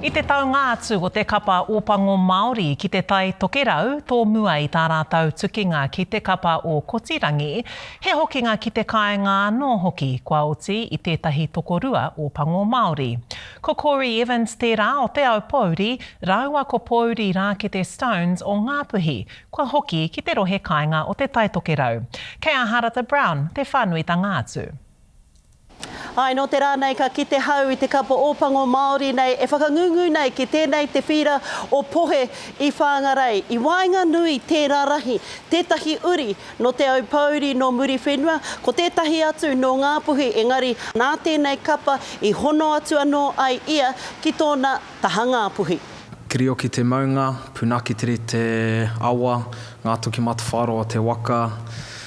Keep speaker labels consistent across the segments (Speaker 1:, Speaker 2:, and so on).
Speaker 1: I te taunga atu o te Kapa Ōpango Māori ki te Tai Tokerau tōmua i tā rātou tukinga ki te kapa o Kotirangi, he hokinga ki te kāinga anō hoki, kua oti i tētahi tokorua Ōpango Māori. Ko Corey Evans tērā o Te Aupōuri rāua ko Pōuri Rākete Stones o Ngāpuhi, kua hoki ki te rohe kāinga o Te Tai Tokerau. Kei a Harata Brown te whānuitanga atu.
Speaker 2: Āe, nō te rā nei ka kite hau i te kapa Ōpango Māori nei e whakangungu nei ki tēnei te whīra o Pohe i Whāngarei. I waenganui tērā rahi, tētahi uri nō Te Aupōuri nō Muriwhenua, ko tētahi atu nō Ngāpuhi engari nā tēnei kapa i hono atu anō ai ia ki tōna taha Ngāpuhi. Kirioki te
Speaker 3: maunga, punakitiri te awa, ngā toki matawhāroa te waka,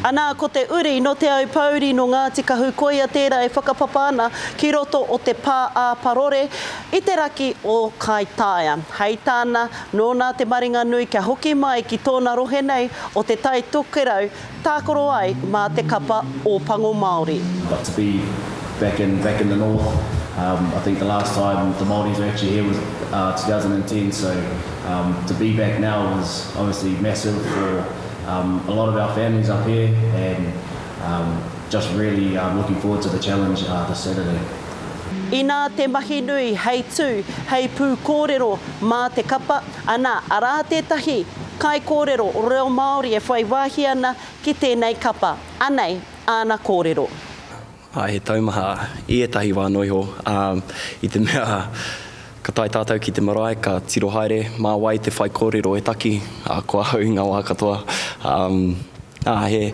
Speaker 3: Anā,
Speaker 2: ko te uri nō Te Aupōuri, nō Ngāti Kahu, koia tērā e whakapapa ana ki roto o te pā ā Parore i te raki o Kaitaia. Hei tāna, nōna te maringa nui kia hoki mai ki tōna rohe nei o Te Tai Tokerau, tākaro ai mā te kapa Ōpango Māori. Got to be
Speaker 4: back in back in the north um I think the last time the Maoris were actually here was uh 2010 so um to be back now was obviously massive for Um a lot of our families up here and um just really um looking forward to the challenge uh this Saturday. Inā
Speaker 2: te mahi nui hei tū, hei pūkōrero mā te kapa, anā, arā tētahi kaikōrero reo Māori e whai wāhi ana ki tēnei kapa. Anei āna kōrero. Ā, he
Speaker 5: taumaha i ētahi wā noa iho, ā, i te mea ka tae tātou ki te marae, ka tiro haere, mā wai te whaikōrero e taki, ā, ko ahau i ngā wā katoa, ā, he,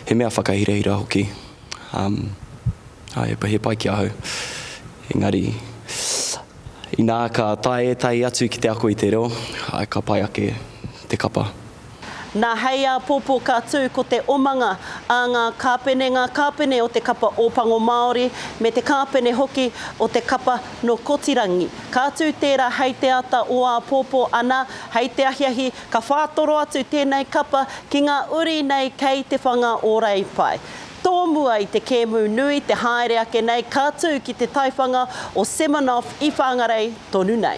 Speaker 5: he mea whakahirahira hoki, ā, ā, he, he pai ki ahau. Engari, inā ka tae ētahi atu ki te ako i te reo, ā, ka pai ake te kapa. Nā
Speaker 2: hei āpōpō ka tū ko te omanga a ngā kāpene, ngā kāpene o te kapa Ōpango Māori me te kāpene hoki o te kapa nō Kotirangi. Ka tū tērā hei te ata o āpōpō ana, hei te ahiahi ka whātoro atu tēnei kapa ki ngā uri nei kei Te Whanga o Reipae. Tōmua i te kēmu nui te haere ake nei ka tū ki te taiwhanga o Seminoff i Whangarei tonu nei.